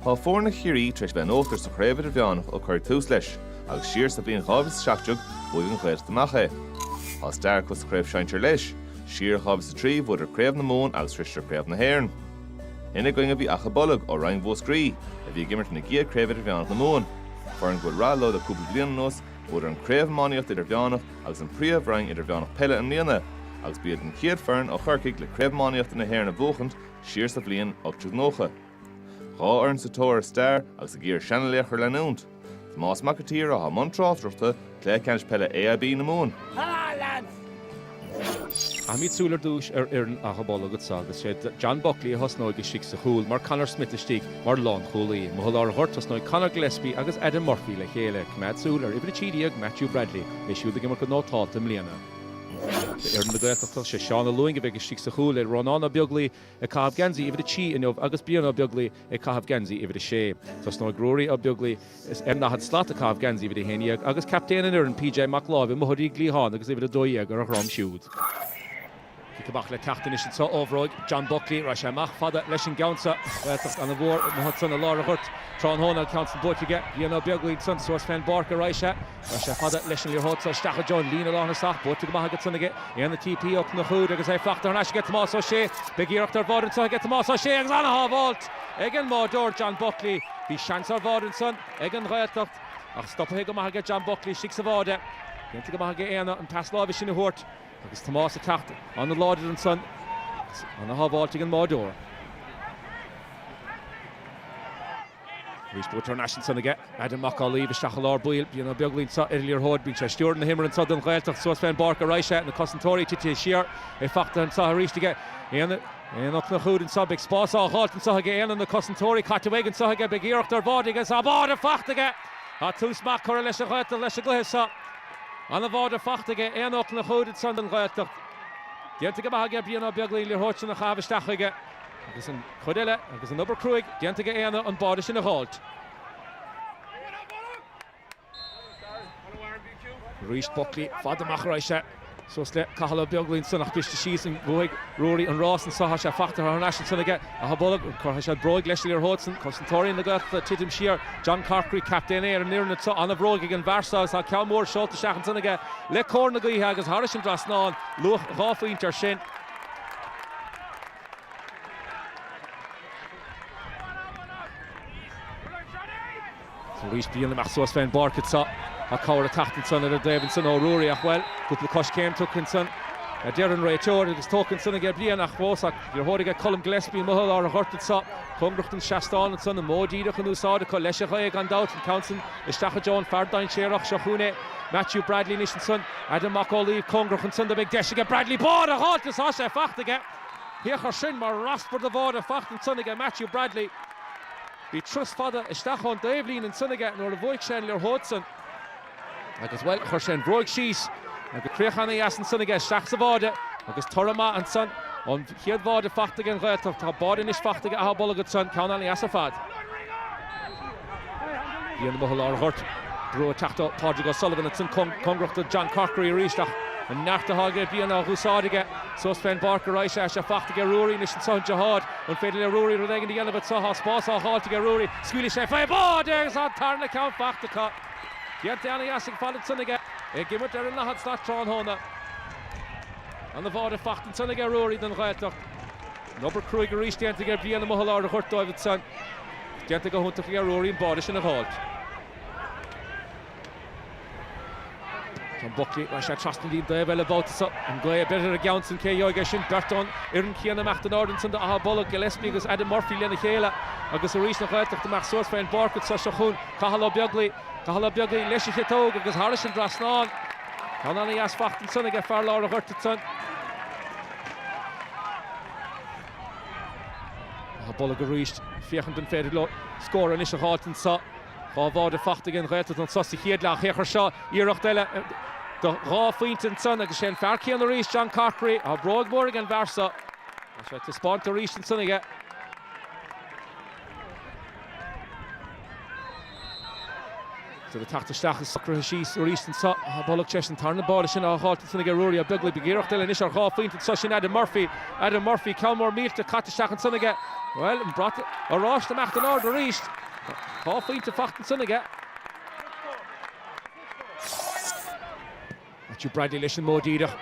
Tá foirne Chiarraí tar éis bheith in uachtar sa Chraobh Idirmheánach ó cuireadh tús leis, agus siar sa bhliain 2017 bhuaigh an Ghaeltacht amach é. Tá stair acu sa Chraobh Shinsir leis, siar i 2003 bhuadar Craobh na Mumhan agus shroiseadar Craobh na hÉireann. Ina gcoinne a bhí Achadh Bolg ó Roinn Mhúscraí, a bhí ag imirt ina gcéad Chraobh Idirmheánach na Mumhan. Foireann go bhfuil rath leo le cúpla bliain anuas, bhuadar an Craobh Iománaíochta Idirmheánach agus an Príomhroinn Idirmheánach Peile i mbliana, agus ba iad an chéad foireann ó Chorcaigh le Craobh Iománaíochta na hÉireann a bhuachaint siar sa bhliain 1890. Dhá fhoireann sa tóir ar stair agus ag iarraidh seana-laochra a leanúint. Tomás Mac an tSaoir atá i mbun tráchtaireachta cluiche ceannais peile AIB na Mumhan. Caithfimid súil ar dtús ar fhoireann Achadh Bolg anso agus is é John Buckley a thosnóidh istigh sa chúl mar Conor Smith istigh mar lánchúlaí. Amuigh i lár an ghoirt, tosnóidh Conor Gillespie agus Adam Murphy le chéile. Coimeád súil ar Uimhir 13, Matthew Bradley. É siúd ag imirt go nótálta i mbliana. D'fhoireann na Gaeltachta, sé Seán Ó Lúing a bheidh istigh sa chúl le Rónán Ó Beaglaoich ag caitheamh geansaí uimhir a trí inniu agus Brian Ó Beaglaoich ag caitheamh geansaí uimhir a sé. Tosnóidh Ruairí Ó Beaglaoich ar an ndaichead slat ag caitheamh geansaí uimhir a haon dhéag agus captaen an fhoireann, PJ Mac Láimh, amuigh ar an gcliathán agus uimhir a dó dhéag ar a dhroim siúd. Cic amach le teacht anois anso ó bhróig John Buckley. Raghaidh sé amach fada leis an gceann seo. Gaeltacht an-mhór ansan i lár an ghoirt. Tráthnóna an ceann san buaite aige Brian Ó Beaglaoich ansan, suas fén bpáirc a raghaidh sé. Raghaidh sé fada leis an liathróid so isteach i dtreo an líne lánthosach. Buaite go maith ansan aige Éanna TP Ó Conchúir agus é fachta thar n-ais aige Tomás Ó Sé. Beidh iarracht ar bháide anso aige Tomás Ó Sé agus an-shábháilt ag an mbáideoir John Buckley. Bhí seans ar bháide ansan ag an Ghaeltacht ach stopaithe go maith aige John Buckley istigh sa bháide. Déanta go maith aige Éanna an pas láimhe sin a thabhairt. Agus Tomás ag teacht an-láidir ansan agus an-shábháilt ag an mbáideoir. Arís go bhfuil turnaisc ansan aige, Adam Mac Amhlaoibh isteach i lár baill. Brian Ó Beaglaoich anso ar an liathróid, bíonn sé ag stiúradh na himeartha anso don Ghaeltacht suas fén bpáirc a raghaidh sé, na cosantóirí titithe siar, é fachtaithe anso arís aige Éanna Ó Conchúir anso, beidh spás á dh'fháilt anso aige Éanna, na cosantóirí caite uaidh anso aige, beidh iarracht ar bháide aige, tá an báide fachta aige! Tá tús maith curtha ag an Ghaeltacht leis an gcluiche seo. Ana bháide fachta aige Éanna Ó Conchúir ansan don Ghaeltacht. Déanta go maith aige Brian Ó Beaglaoich an liathróid san a chaitheamh isteach chuige agus an chuid eile agus an obair cruaidh déanta aige Éanna an báide sin a dh'fháilt. Arís Buckley fada amach a raghaidh sé. Suas le Cathal Ó Beaglaoich ansan ach briste síos ansan Bhuaigh Ruairí an rás anso ach Thá sé fachta thar n-ais ansan aige Achadh Bolg Cuirfidh sé bróig leis an liathróid san Cosantóirí na Gaeltachta ag titim siar John Corkery, captaen é ar an fhoireann anso An-bhróig ag an bhfear so agus thá ceann mór seolta isteach ansan aige le cóir na gaoithe agus thairis an dtrasnán luach dhá phointe air sin. Arís Brian imeacht suas fén bpáirc anso, tá cabhair a teacht ansan ar an dtaobh ansan ó Ruairí ach, bhuel, cúpla coiscéim tugtha ansan, a deir an réiteoir, agus tógtha ansan aige Brian ach fós, an liathróid aige Colm Gillespie amuigh i lár an ghoirt anso, cóngarach don seastán ansan, an modh díreach in úsáid acu leis an ghaoth, gan dabht, an ceann san isteach i dtreo an fear dainséarach sa chúinne Matthew Bradley anois ansan, Adam Mac Amhlaoibh cóngarach ansan do, beidh deis aige Bradley báide a dh'fháilt is tá sé fachta aige, thiocfadh sin mar raspar de bháide fachta ansan aige Matthew Bradley. Bhí turas fada isteach ón dtaobhlíne ansan aige nuair a bhuaigh sé an liathróid san agus, bhuel, chuir sé an bhróg síos agus críoch ana-dheas ansan aige isteach sa bháide agus toradh maith ansan ón chéad bháide faighte ag an Ghaeltacht. Tá báide anois faighte aige Achadh Bolg ansan, ceann ana-dheas ar fad. Brian amuigh i lár an ghoirt, brú ag teacht ó Pádraig O'Sullivan ansan, cóngarach do John Corkery arís ach an neart atá aige Brian á dh'úsáid aige suas fén bpáirc ar aghaidh. Sé faighte aige Ruairí anois ansan, daichead. An féidir le Ruairí rud éigin a dhéanamh anseo? Tá spás á dh'fháilt aige Ruairí. Scaoilfidh sé faoi bháide agus tá an tarna ceann fachta acu. Déanta ana-dheas ar fad ansan aige, é ag imirt ar an daichead slat tráthnóna. Ana bháide fachta ansan aige Ruairí don Ghaeltacht. An obair cruaidh arís déanta aige Brian amuigh i lár an ghoirt dóibh ansan. Déanta go hiontach aige Ruairí an báide sin a dh'fháilt. John Buckley, rachaidh sé trasna an lín taobh eile an babhta seo. An ghaoth ag breith ar an gceann san, cé a gheobhaidh é sin? Beirt ón fhoireann céanna amach don fhoireann san do Achadh Bolg, Gillespie agus Adam Murphy lena chéile agus arís an Ghaeltacht ag imeacht suas fén bpáirc an tráth seo chugainn. Cathal Ó Beaglaoich. Cathal Ó Beaglaoich leis an chiotóg agus thairis an trasnán. Ceann ana-dheas fachta ansan aige fear lár an ghoirt ansan. Achadh Bolg arís ag féachaint an féidir leo scór anois a dh'fháilt anso. Dhá bháide fachta aige an Ghaeltacht anso sa chéad leath shaothar seo. Iarracht eile do dhá phointe ansan agus is é an fear céanna arís, John Corkery, atá bróg mhór ag an bhfear seo. Tá sé taispeáinte arís ansan aige. Siad ag teacht isteach is socraithe síos arís anseo Achadh Bolg tar éis an tarna báide sin á dh'fháilt ansan aige Ruairí Ó Beaglaoich. Beidh iarracht eile anois ar dhá phointe anseo. Sin Adam Murphy. Adam Murphy, ceann mór millte caite isteach ansan aige. Bhuel, an brat oráiste imeacht in airde arís. Tá dhá phointe fachta ansan aige. Matthew Bradley leis an modh díreach.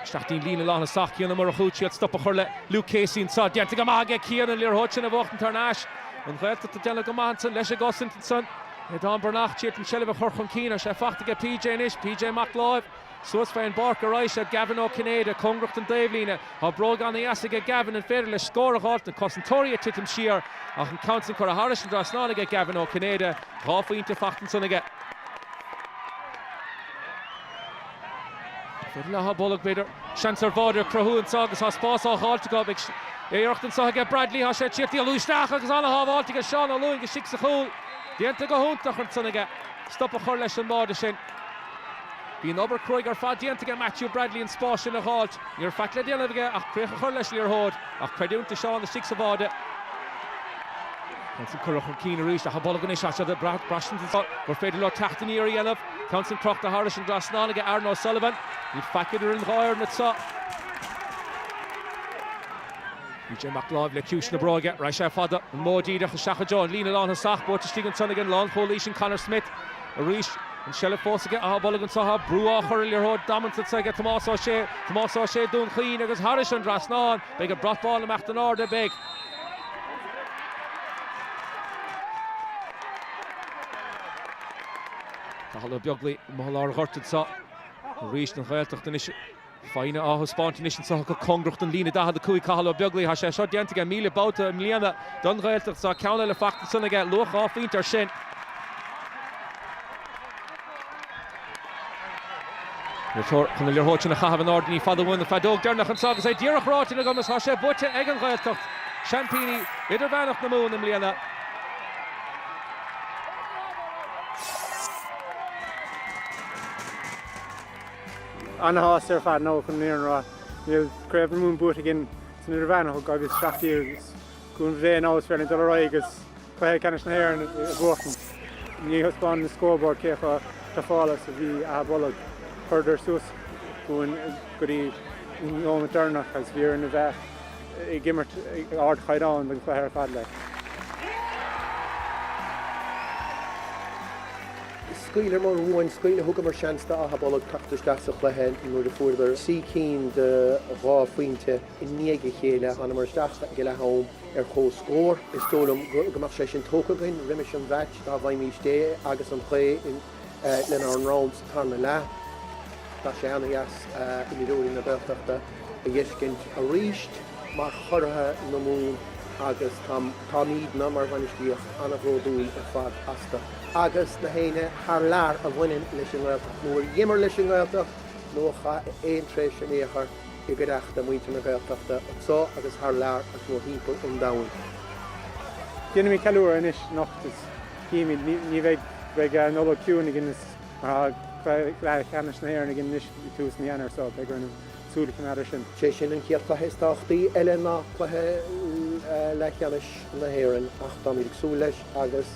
Isteach dtí'n líne lántosach, Cian Ó Murchú ag triail stop a chur le Luke Casey anseo. Déanta go maith aige Cian an liathróid sin a bhuachtaint thar n-ais. An Ghaeltacht ag déanamh go maith ansan leis an gcosaint ansan. Aodán Breathnach, ag triail an seilbh a chur chun cinn, tá sé fachta aige PJ anois, PJ Mac Láimh. Suas fé an bpáirc ar aghaidh seo Gavin Ó Cinnéide cóngarach don dtaobhlíne. Tá bróg ana-dheas aige Gavin an féidir leis scór a dh'fháilt, na cosantóirí ag titim siar ach an ceann san curtha thairis an trasnán aige Gavin Ó Cinnéide, dhá phointe faighte ansan aige. Cuid mhaith Áth Bolg b'fhéidir. Seans ar bháide a chruthú anseo agus tá spás á dh'fháilt acu. Beidh iarracht anseo aige Bradley, tá sé ag tíocht díreach isteach agus ana-shábháilt aige Seán Ó Lúing istigh sa chúl. Déanta go hiontach ansan aige stop a chur leis an mbáide sin. Bhí an obair cruaidh ar fad déanta aige Matthew Bradley an spás sin a dh'fháilt. Ní raibh faic le déanamh aige ach críoch a chur leis an liathróid, ach creidiúint do Seán istigh sa bháide. An ceann san curtha chun cinn arís Achadh Bolg anois is iad ag brath, braistint anseo gur féidir leo teacht aniar a dhéanamh. An ceann san crochta thairis an dtrasnán aige Aaron O'Sullivan. Níl faic idir an dhá fhoireann anseo. PJ Mac Láimh le ciumhais na bróige, raghaidh sé fada, an mhóid díreach isteach go dtí an líne lán thosach, buaite istigh ansan ag an lán chúlaí sin Conor Smith. Arís, an tseilbh fós aige, Áth Bolg anseo, tá brú á chur ar liathróid damanta s'aige, Tomás Ó Sé, Tomás Ó Sé, Dún Chaoin agus thairis an dtrasnán, beidh an brat bán ag imeacht in airde, beidh. Cathal Ó Beaglaoich amuigh i lár an ghoirt anseo, arís don Ghaeltacht anois. Foighne á thaispeáint anois anseo acu, cóngarach don líne 45, Cathal Ó Beaglaoich. Tá sé seo déanta aige míle babhta i mbliana don Ghaeltacht. Tá ceann eile faighte ansan aige, luach dhá phointe air sin. Níor chóir an liathróid sin a chaitheamh in airde ní fada uainn an fheadóg dheireanach anseo agus é díreach ráite agam is tá sé buaite ag an Ghaeltacht, seaimpíní idirmheánach na Mumhan i mbliana. Ana-shásta ar fad, chun na fírinne a rá. Níl Craobh na Mumhan buaite againn san Idirmheánach ó 2017 agus le cúnamh Dé anois is féidir linn dul ar aghaidh agus Cluiche Ceannais na hÉireann a bhuachan. Ní thaispeánann an scoreboard cé chomh tufáilte is a bhí Áth Bolg. Chuireadar suas chugainn go dtí an nóimeat deireanach agus bhí orainn a bheith ag imirt ag ardchaighdeán don chluiche ar fad le. Scaoileamar uainn scaoil, thugamar seans d'Áth Bolg teacht isteach sa chluiche nuair a fuaireadar trí cinn de dhá phointe i ndiaidh a chéile. Thánamar isteach ag a leath-am ar comhscór. Is dóigh liom go mbeadh sé sin tógtha againn roimis an mheaits dá bhfaighmís é agus an chóir lenár ndroim sa tarna leath. Tá sé ana-dheas imreoirí na Gaeltachta a fheiscint arís mar churaithe na Mumhan agus táimídne mar bhainistíocht ana-bhródúil ar fad astu. agus na héinne thar lear a bhaineann leis an nGaeltacht, nó a dh'imir leis an nGaeltacht, nó a chaith aon tréimhse in aon chor i gcuideachta muintir na Gaeltachta, anso agus thar lear, agus mórthimpeall an domhain. Déanfaimid ceiliúradh anois anocht is chífimid, ní bheidh, beidh an Nollaig chiúin againn is mar tá Craobh Leathcheannais na hÉireann againn anois ag tús mhí Eanáir so beidh orainn súil a choimeád ar sin. Sé sin an chéad chluiche is tábhachtaí eile ná cluiche leathcheannais na hÉireann ach táimid ag súil leis agus,